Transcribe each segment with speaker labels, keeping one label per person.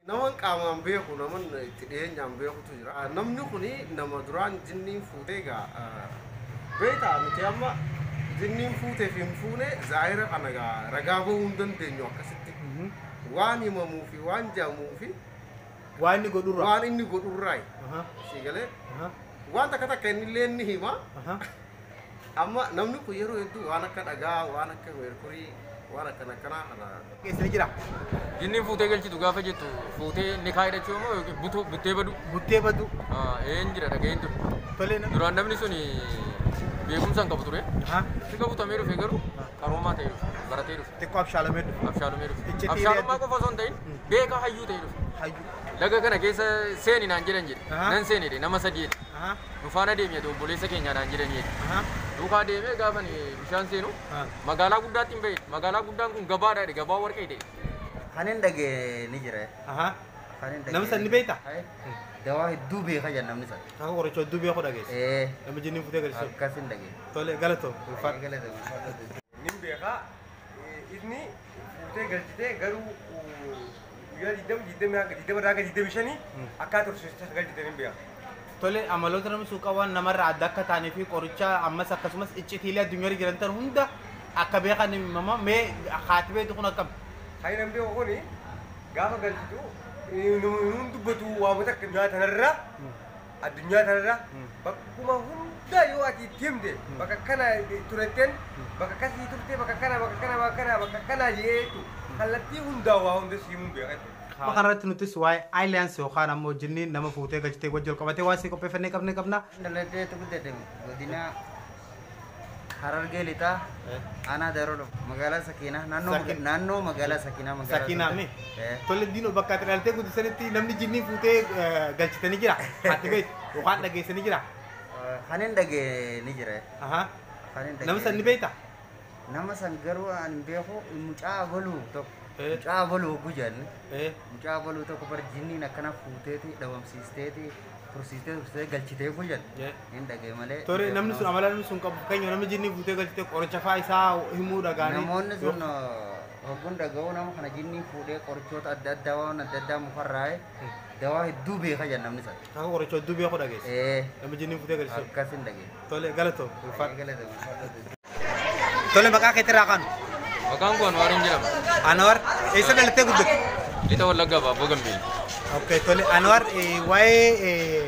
Speaker 1: Naman qaamaan beeku naman itti dhiyeenyaan beekutu jira. Namni kun nama duraan jinniin fuutee egaa beektaa nuti amma jinniin fuutee fi hin fuune zaahira kana egaa ragaa bahuu hin dandeenyu akkasitti. Waan himamuu fi waan jedhamuu fi Waa inni
Speaker 2: godhurraa. waan inni godhurraayi. Aha.
Speaker 1: Sii galee Aha. waan takka takka inni illee ni hima. Aha. Amma namni kun yeroo hedduu waan akka dhagaa, waan akka meerkurii, waan akkana akkanaa kana keessa ni jira.
Speaker 2: Jinniin fuutee
Speaker 3: galchitu gaafa jettu fuutee nikaa hidhachuu moo yookiin butuu buttee baduu? Buttee baduu.
Speaker 2: Ah, Een jira dhaga'een
Speaker 3: ture. Tolee namni. Duraan namni sun beekumsa hin qabu ture. Ahaa. Xiqqoo butamee dhufe garuu qaroomaa ta'ee dhufe. Baratee dhufe. Xiqqoo abshaalamee dhufe.
Speaker 2: Abshaalumee dhufe. Iccitii Abshaalummaa
Speaker 3: reetu. qofa osoo hin ta'in beekaa hayyuu ta'ee dhufe. Hayyuu. Laga kana
Speaker 2: keessa
Speaker 3: seeni naan jedhan jedhe. Ahaa. Nan seeni jedhe nama sadii jedhe. nu faana deemi ati obboleessa keenyaa naan jedhanii jedhe. Duukaa deemee gaafa ani bishaan seenu magaalaa guddaatti hin ba'e. Magaalaa guddaan kun gabaadha jedhe gabaa warqee ta'e. Kan hin dhagee
Speaker 4: ni jira. Kan hin Nama
Speaker 2: san ni beekta? Hai, Dawaa
Speaker 4: hedduu beeka jedha namni san. Akka qoricha hedduu beeku
Speaker 2: dhageesse. Ee, Nama jinniin futee galchisuuf. akkas hin dhagee. Tole
Speaker 4: galatoo.
Speaker 2: Ulfaadha. Eegale ta'uu.
Speaker 5: Nin beekaa Ifni fuutee galchitee garuu guyyaa 20, 20 hanga 20 irraa hanga 25 akkaa tursiistu akka galchitan hin beeku. Tole amaloota
Speaker 2: namni suuqaa waan namarraa adda akka taanee fi qoricha ammas akkasumas iccitiilee addunyaarra jiran tan hunda akka beekan himama mee haati beektu kun akkam? Hayi namni beeku kun
Speaker 5: gaafa galchitu hin dubbatu waamota akka addunyaa tanarra Addunyaa tanarra bakkuma hunda yoo ati itti himte bakka akkana turetten bakka akkasii turte bakka akkana bakka akkana bakka akkana bakka akkana jedhee jechuu kallattii hundaa waa hunda si himuun beeka jechuudha. Amma kanarratti nutis
Speaker 2: waa'ee Alliance yookaan ammoo jinniin nama fuutee galchitee wajji wal qabatee waan sii qopheeffannee qabne qabna. Dhaladheetu guddate
Speaker 4: godina. Harargee lixaa aanaa Daarolo magaalaa Sakiinaa naannoo maga- Sakin- naannoo magaalaa Sakiinaa magaalaa Sakiinaa mee? Santa- Eh,
Speaker 2: Tole diinoo bakka ati dhaltee guddisanitti namni jinnii fuutee eh, galchitanii jira. Haati beet yookaan dhageessanii jira. eh, kan hin
Speaker 4: dhageenye ni jira Ahaa. kan hin Nama
Speaker 2: san ni dhageenye. beekta? Nama san
Speaker 4: garuu an hin beeku mucaa abaluu tokko Eh. mucaa abaluu hogguu jedhanne Ee. mucaa abaluu tokko bar jinniin akkana fuuteeti dhabamsiisteeti tursiistee tursiistee galchitee hogguu jedhan Eh. hin dhagee malee. Tore namni sun amala namni
Speaker 2: sun qabu fakkeenya namni jinnii fuutee galchite qoricha faa isaa himuu dhagaanii. Namoonni sun
Speaker 4: hogguun dhaga'uu nama kana jinniin fuudhee qorichoota adda addaa waan adda addaa mukarraa'e Dawaa hedduu beeka jedhan namni sana. Akka qoricha hedduu beeku
Speaker 2: dhageesse. Ee Nama jinniin futee agarsiisu. akkas hin dhageessu. Tole
Speaker 4: galatoo. Ulfaadhu.
Speaker 2: Galata ulfaadhu. Tole maqaa keetirraa kaanu. Maqaan koo Anwaariin
Speaker 3: jedhama. Anwar eessa
Speaker 2: dhalattee guddatte? Lixa Wallaggaa
Speaker 3: Baabboo Gambeelli. Okay, tole
Speaker 2: Anwar eh, waa'ee eh,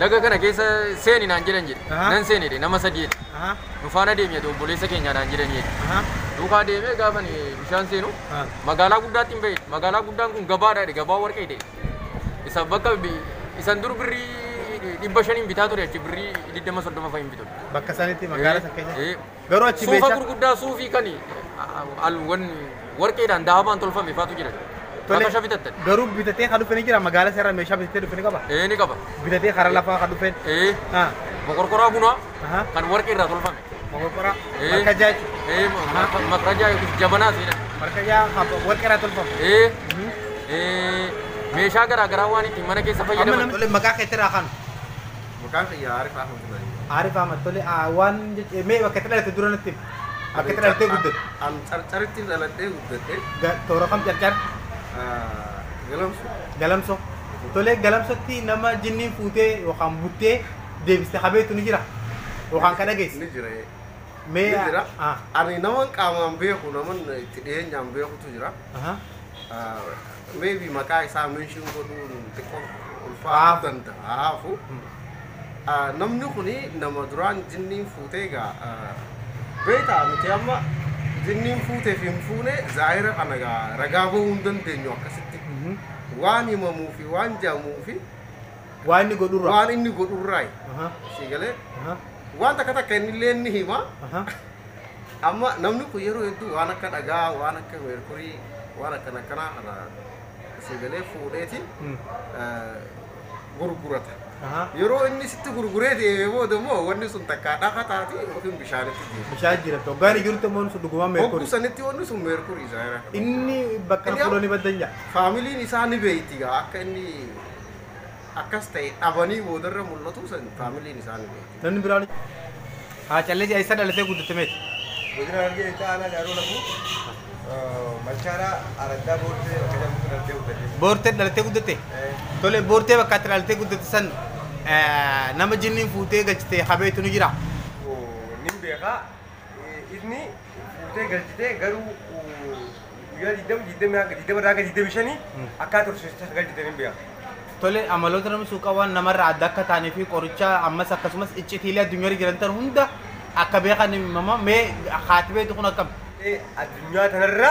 Speaker 3: Laga kana keessa seeni naan jedhan jedhe. Ahaa. Nan seene jedhe nama sadii jedhe. Aha. Nu faana deemi jedhe obboleessa keenya naan jedhanii jedhe. Aha. Duukaa deemee gaafa ani bishaan seenu Ah. magaalaa guddaatti hin bahe. Magaalaa guddaan kun gabaadha jedhe gabaa warqee ta'e. Isa bakka bi- isan dur birrii dhibba shaniin bitaa ture achi birrii digdama soddoma fa'iin bitu. Bakka sanitti magaalaa
Speaker 2: san keessa. Eh, eh, Garuu achi Suufa meeshaa- gurguddaa suufii
Speaker 3: kan alwan warqeedhaan dahabaan tolfame faatu jira. Tole, Bakka shafitattan. Garuu bitatee kan dhufe
Speaker 2: ni jira magaala seera meeshaa bitatee dhufe ni qaba. Ee ni qaba. Bitatee
Speaker 3: karaa lafaa kan
Speaker 2: dhufe. Ee Ah, mokorkoraa
Speaker 3: bunaa aha, kan warqee irraa tolfame. mokorkoraa, Ee.
Speaker 2: markajaa jechuudha. Ee ma- ma- makrajaa yookiis
Speaker 3: jabanaa seenan. Markajaa kan
Speaker 2: warqee irraa tolfame. Ee Mhm. ee
Speaker 3: meeshaa garaa garaa waan ittiin mana keessa Amma fayyadaman. namni maqaa keetti irraa kan
Speaker 1: Maqaan kiyya Aarif Ahmad Ibrahim
Speaker 2: jedhama. Aarif Ahmad, tole, waan jechuun, mee bakka itti dhalatte dura natti himi. Bakka itti dhalattee guddatte. An Carcarittin
Speaker 1: dhaladhee guddadhe. Toora kam Carcar?
Speaker 2: Galamso. Galamso. Tole, Galamsotti nama jinniin fuutee yookaan buttee deebiste ka beektu ni jira? Yookaan ka dhageesse? Ni jira.
Speaker 1: Mee Ni jira. Ani naman qaamaan beeku, naman itti dhiyeenyaan beekutu jira. Maybe maqaa isaa mention godhuun xiqqoo ulfaa'aa danda'aafu. Ah, Namni kuni nama duraan jinniin fuutee egaa ah, beektaa nuti amma jinniin fuutee fi hin fuune zaahira kana egaa ragaa bahuu hin dandeenyu akkasitti. Waan himamuu fi waan jaamuu fi Waan inni
Speaker 2: godhurra. waan inni godhurraayi. Aha,
Speaker 1: Sii galee aha, waan takka takka inni illee ni hima. aha. Amma namni kun yeroo hedduu waan akka dhagaa, waan akka meerkurii, waan akkana akkanaa kana isa galee fuudheeti eh, gurgurata. Ahaa. Yeroo inni sitti gurguree deemee booda immoo wanni sun takkaa dhafa taati yookiin bishaanitti deema. Bishaan jiratu. Hoggaan
Speaker 2: jirtu immoo sun dhugumaan Hogguu meerkurii. sanitti wanni sun meerkurii
Speaker 1: isaa irraa kan Inni bakka
Speaker 2: Inni- fuudhanii baddan jaa. faamiliin isaa ni
Speaker 1: beeyti gaa akka inni akkas ta'e dhabanii boodarra mul'atuu san faamiliin isaa ni beekti. Namni biraan
Speaker 2: haa calleessi eessa dhalatee guddatte meeti? Godina Harargee
Speaker 5: Lixaa Aanaa Gaaroo Lafuu Machaaraa Araddaa Boortee bakka jedhamutti dhalatee guddate. Boortee dhalatee guddatte? Eh,
Speaker 2: Tole boortee bakka itti dhalatee guddatte san eh, nama jinniin fuutee galchite habeetu ni jira. oo, Nin
Speaker 5: beekaa Ifni fuutee galchitee garuu guyyaa 20, 20 hanga 20 irraa hanga 25 akkaa tursiistu akka galchitan hin beeku. Tole amaloota
Speaker 2: nama suuqaa waan namarraa adda akka taanii fi qoricha ammas akkasumas iccitiilee addunyaarra jiran tan hunda akka beekan himama mee haati beektu kun akkam? Ee, addunyaa
Speaker 5: tanarra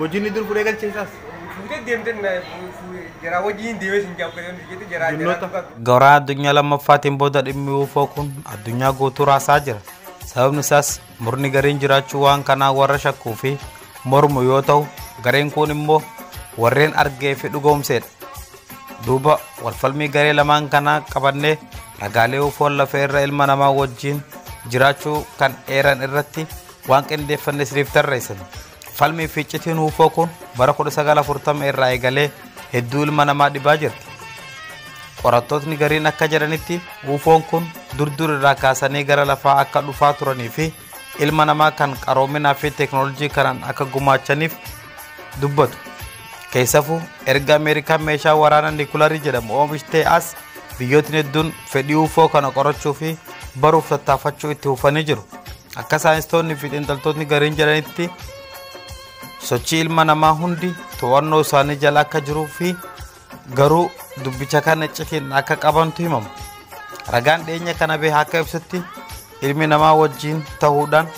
Speaker 2: Mojiin ni dur fudhee galchee isaas. Fuutee deemtee na jaraa wajjin deemee sin jaabbatee
Speaker 6: ni jettee jaraa jaraa Jinnoota. dubbatu. Garaa addunyaa lammaffaatiin booda dhimmi UFO kun addunyaa guutuu raasaa jira. Sababni isaas murni gariin jiraachuu waan kanaa warra shakkuu fi mormu yoo ta'u, gareen kun immoo warreen argee fi dhugoomseedha. Duuba walfalmii garee lamaan kanaa qabannee ragaalee UFO lafee irra ilma namaa wajjin jiraachuu kan eeran irratti waan qindeeffanne isiniif tarreessina. Falmii fi iccitiin uufoo kun bara 1940 irraa eegalee hedduu ilma namaa dhibaa jirti. Qorattootni gariin akka jedhanitti uufoon kun durdur irraa kaasanii gara lafaa akka dhufaa turanii fi ilma namaa kan qaroominaa fi teeknooloojii kanaan akka gumaachaniif dubbatu. Keessafuu erga Ameerikaan meeshaa waraanaa niikularii jedhamu oomishtee as biyyootni hedduun fedhii uufoo kana qorachuu fi baruuf tattaafachuu itti fufanii jiru. Akka saayinstoonni fi xiinxaltootni gariin jedhanitti sochii ilma namaa hundi to'annoo isaanii jala akka jiruu fi garuu dubbicha kana iccitiin akka qabantu himama. Ragaan dhiyeenya kana bahe akka ibsutti ilmi namaa wajjin ta'uudhaan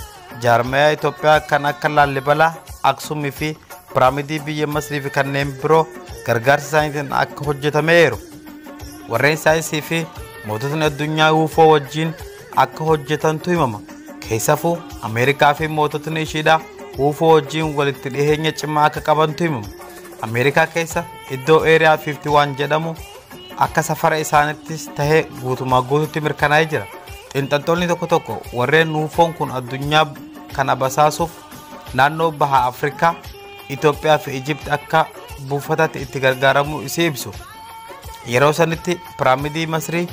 Speaker 6: jaarmayaa Itoophiyaa kan akka Laallibalaa, Aksumii fi Piraamidii biyya Masrii fi kanneen biroo gargaarsa isaaniitiin akka hojjetameeru. Warreen saayinsii fi moototni addunyaa UFO wajjin akka hojjetantu himama. Keessafuu Ameerikaa fi moototni ishiidhaa uufoo wajjin walitti dhiheenya cimaa akka qabantu himama. Ameerikaa keessa iddoo Eeriyaa 51 jedhamu akka safara isaanittis tahee guutumaa guututti mirkanaa'ee jira. Xiinxaltoonni tokko tokko warreen uufoon kun addunyaa kana basaasuuf naannoo baha Afrikaa, Itoophiyaa fi Ijipti akka buufataatti itti gargaaramuu isii ibsu. Yeroo sanitti piraamidii Masrii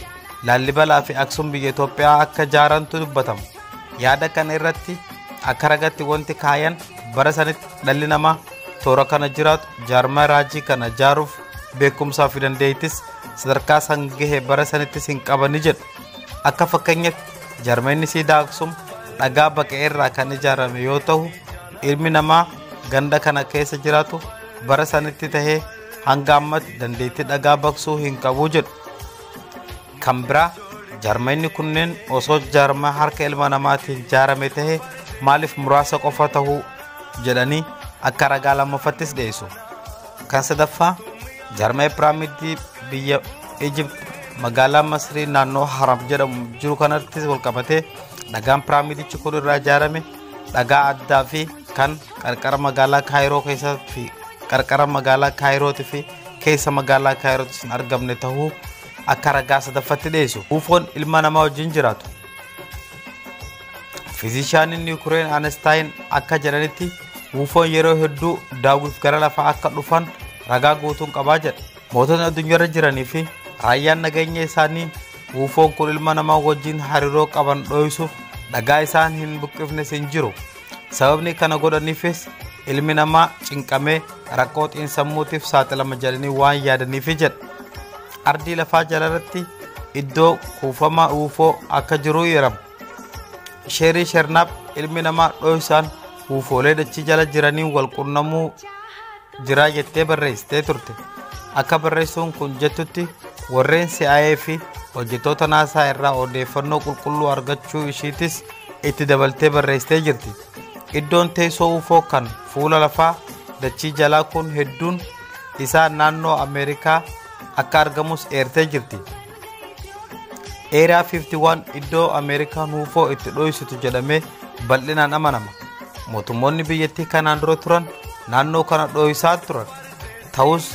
Speaker 6: Laallibalaa fi Aksum biyya Itoophiyaa akka jaarantu dubbatama. Yaada kana irratti akka ragatti wanti kaayan bara sanitti dhalli namaa toora kana jiraatu jaarmaa raajii kana jaaruuf beekumsaa fi dandeettis sadarkaa san gahe bara sanittis hin qabani jedhu. Akka fakkeenyatti jaarmeenni siidaa Aksum dhagaa baqee irraa kan ijaarame yoo ta'u ilmi namaa ganda kana keessa jiraatu bara sanitti tahee hanga ammatti dandeettii dhagaa baqsuu hin qabu jedhu. Kan biraa jaarmayni kunneen osoo jaarmaa harka ilma namaatiin jaarame ta'e maaliif muraasa qofa ta'uu jedhanii akka ragaa lammaffattis dhiyeessu. Kan sadaffaa jaarmaya piraamidii biyya Ijipt magaalaa Masrii naannoo Haram jedhamu jiru kanattis walqabatee dhagaan piraamidichi kun irraa ijaarame dhagaa addaa fi kan qarqara magaalaa Kaayiroo keessatti qarqara magaalaa Kaayirootii fi keessa magaalaa kaayirootti hin argamne tahuu akka ragaa sadaffatti dhiyeessu uufoon ilma namaa wajjin jiraatu fiizishaaniin yuukireen anastaayin akka jedhanitti uufoon yeroo hedduu daawwiif gara lafaa akka dhufan ragaa guutuun qabaa jedha mootonni addunyaarra jiranii fi raayyaan nageenya isaanii uufoon kun ilma namaa wajjin hariiroo qaban dhooysuuf dhagaa isaan hin buqqifnes hin jiru Sababni kana godhaniifis ilmi namaa cinqamee rakkoo xiinsammuutiif saaxilama jedhanii waan yaadaniifi jedha. Ardii lafaa jalarratti iddoo kuufama uufoo akka jiru yerama. Sheerii shernaaf ilmi namaa dho'isaan uufoolee dachii jala jiraniin wal qunnamuu jiraa jettee barreessitee turte. Akka barreessuun kun jettutti warreen CIA fi hojjettoota naasaa irraa odeeffannoo qulqulluu argachuu ishiitis itti dabaltee barreessitee jirti. Iddoon teessoo UFO kan fuula lafaa dachii jalaa kun hedduun isaa naannoo Ameerikaa akka argamus eertee jirti. Eeriyaa 51 iddoo Ameerikaan UFO itti dho'isitu jedhamee bal'inaan amanama. Mootummoonni biyyattii kanaan dura turan naannoo kana dho'isaa turan. Ta'us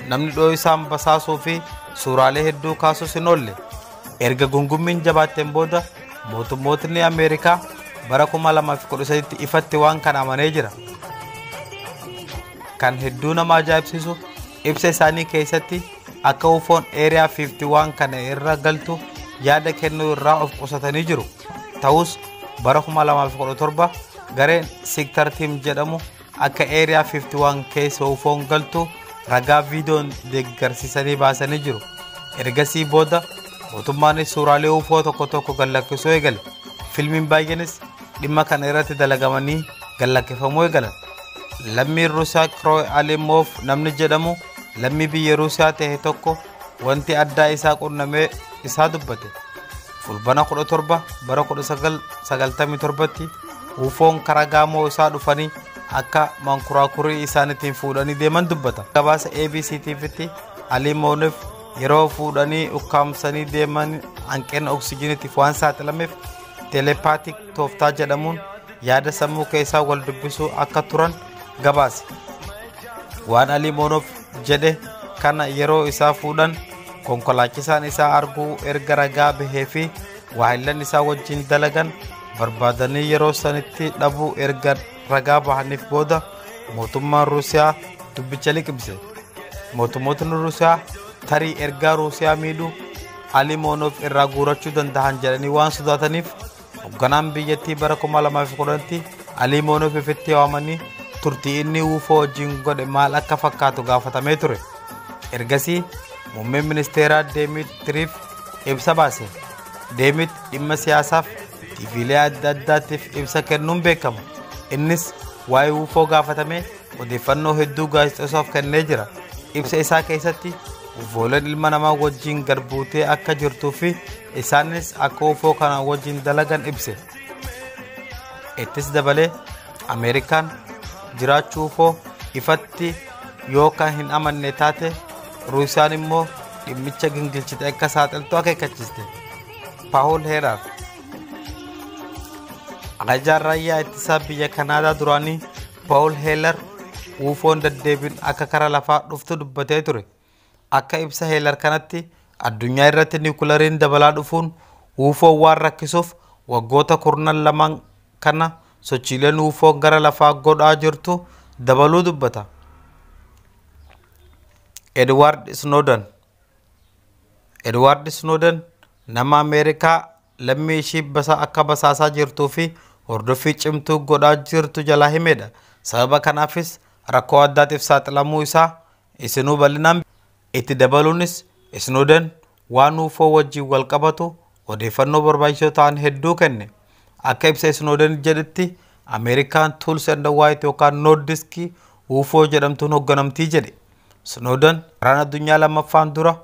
Speaker 6: namni dho'isaan basaasuu fi suuraalee hedduu kaasus hin oolle. Erga gungummiin jabaatteen booda mootummootni Ameerikaa bara 2013tti ifatti waan kana amanee jira. Kan hedduu nama ajaa'ibsiisu ibsa isaanii keessatti akka ufoon eeriyaa 51 kana irra galtu yaada kennuu irraa of qusatanii jiru. Ta'us bara 2017 gareen Siktar Tiim jedhamu Akka Area 51 keessa UFO'n galtu ragaa viidiyoon deeggarsisanii baasanii jiru. Ergasii booda mootummaanis suuraalee UFO tokko tokko gallakkisuu eegale. Filmiin baay'eenis dhimma kana irratti dalagamanii gallakkifamuu eegalan. Lammiin Ruusiyaa Kirooy Alimoof namni jedhamu lammii biyya Ruusiyaa ta'e tokko wanti addaa isaa qunnamee isaa dubbate fulbana 17 bara 1997tti uufoon karaa gaamoo isaa dhufanii akka mankuraakurii isaaniitiin fuudhanii deeman dubbata gabaasa abc tvtti alii moonif yeroo fuudhanii ukkaamsanii deeman hanqina oksijiniitiif waan saaxilameef telepaatik tooftaa jedhamuun yaada sammuu keessaa wal dubbisuu akka turan gabaase waan alii moonoof jedhe kana yeroo isaa fuudhan konkolaachisaan isaa arguu erga ragaa bahee fi waahillan isaa wajjin dalagan barbaadanii yeroo sanitti dhabuu erga ragaa bahaniif booda mootummaan ruusiyaa dubbicha liqimse mootummootni ruusiyaa tarii ergaa ruusiyaa miidhu alimoonoof irraa guurachuu danda'an jedhanii waan sodaataniif Hogganaan biyyattii bara 2010tti Alii Moonof ifitti waamanii turtii inni UFO wajjin godhe maal akka fakkaatu gaafatamee ture. Ergasii muummeen ministeeraa Deemit Tiriif ibsa baase. Deemit dhimma siyaasaaf tiiviilee adda addaatiif ibsa kennuun beekama. Innis waa'ee UFO gaafatamee odeeffannoo hedduu gaazexeessaaf kennee jira. Ibsa isaa keessatti UFOleen ilma namaa wajjin gad buutee akka jirtuu fi isaanis akka UFO kana wajjin dalagan ibse. Ittis dabalee Ameerikaan jiraachuu UFO ifatti yoo kan hin amanne taate Ruusiyaan immoo dhimmicha gingilchite akka saaxiltu akeekkachiiste. Paawul Heeraaf ajajaan raayyaa ittisaa biyya Kanaadaa duraanii Paul Heelar UFO'n daddeebiin akka kara lafaa dhuftu dubbatee ture. Akka ibsa Heelar kanatti addunyaa irratti niwukilariin dabalaa dhufuun UFO'n waan rakkisuuf waggoota kurnan lamaan kana sochiileen UFO'n gara lafaa godhaa jirtu dabaluu dubbata. Edward Snowden Edward Snowden nama Ameerikaa lammii ishii basaa akka basaasaa jirtuu fi hordoffii cimtuu godhaa jirtu jalaa himedha. Sababa kanaafis rakkoo addaatiif saaxilamuu isaa isinuu bal'inaan Itti dabaluunis Snowden waan ufo wajjin wal qabatu odeeffannoo barbaachisoo ta'an hedduu kenne. Akka ibsa Snowden jedhetti Ameerikaan Tools and White yookaan Nordisk ufo jedhamtuun hogganamti jedhe. Snowden waraana addunyaa lammaffaan dura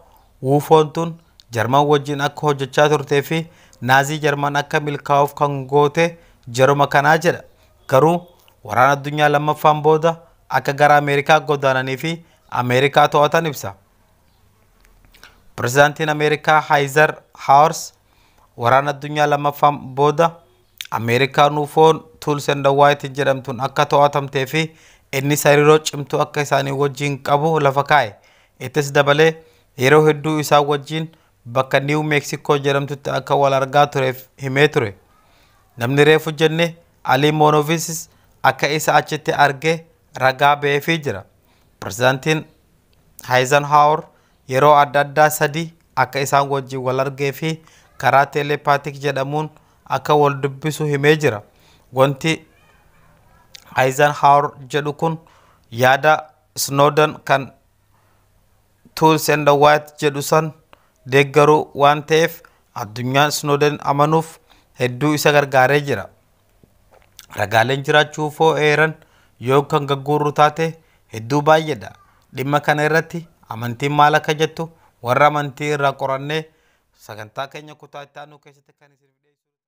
Speaker 6: Wufoon tun Jarman wajjin akka hojjechaa turtee fi Naazii Jarman akka milkaa'uuf kan goote jaruma kanaa jedha. Garuu Waraana Addunyaa Lammaffaan booda akka gara Ameerikaa godaananii fi Ameerikaa to'atan ibsa. Pirezidaantiin Ameerikaa Haayizar Haawars Waraana Addunyaa Lammaffaan booda Ameerikaan UFO'n Tools and White jedhamtuun akka to'atamtee fi innis hariiroo cimtuu akka isaanii wajjin qabu lafa kaa'e. Ittis dabalee yeroo hedduu isaan wajjin bakka Niiw Meeksikoo jedhamtutti akka wal argaa tureef himee ture. Namni reefu jenne Alii Moonovisis akka isa achitti arge ragaa ba'eefii jira. Pirezidaantiin Haayizenhaawar yeroo adda addaa sadii akka isaan wajjin wal argee fi karaa teeleepaatik jedhamuun akka wal dubbisu himee jira. Wanti Eisenhower jedhu kun yaada Snowden kan Tools and White jedhu san deeggaru waan ta'eef addunyaan Snowden amanuuf hedduu isa gargaaree jira. Ragaaleen jiraachuu foo eeran yoo kan gagguurru taate hedduu baay'eedha. Dhimma kana irratti amantiin maal akka jettu warra amantii irraa qorannee sagantaa keenya kutaa itti aanu keessatti kan isiniif dhiyeessinu ta'a.